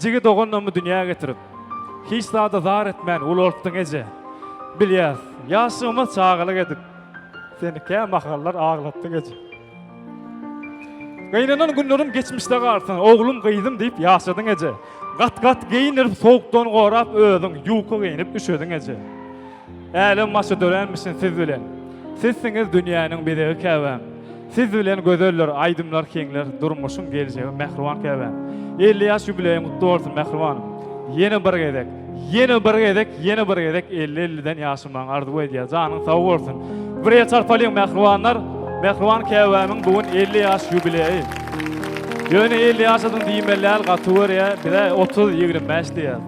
Jigi doganlarymy dünýä getirip, Hiç zada zar etmän ulaltdyň, eje. Bilýäs, ýaşlygyma çagalyk edip, Sen kä mahallar aglatdyň, eje. Gynanan günlerim geçmişde galsyn, Oglum, gyzym diýip ýaşadyň, eje. Gat-gat geýindirip, sowukdan gorap, Özüň ýuka geýnip üşediň, eje. Älem başy dörenmişin siz bilen Sizsiňiz dünýäniň bezegi käbäm Siz bilen gözeldir aýdymlar heňler Durmuşyň geljegi mähriban käbäm Elli ýaş ýubileýiň gutly bolsun mähribanym Ýene bir gezek Ýene bir gezek Ýene bir gezek elli elliden ýaşamagyňy arzuw edýär janyň sag bolsun Birje çarpalyň mähribanlar Mähriban käbämiň bu gün elli ýaş ýubileýi Ýöne elli ýaşadyň diýmeli däl gaty görýä bizä otuz ýigrimi bäş diýýär.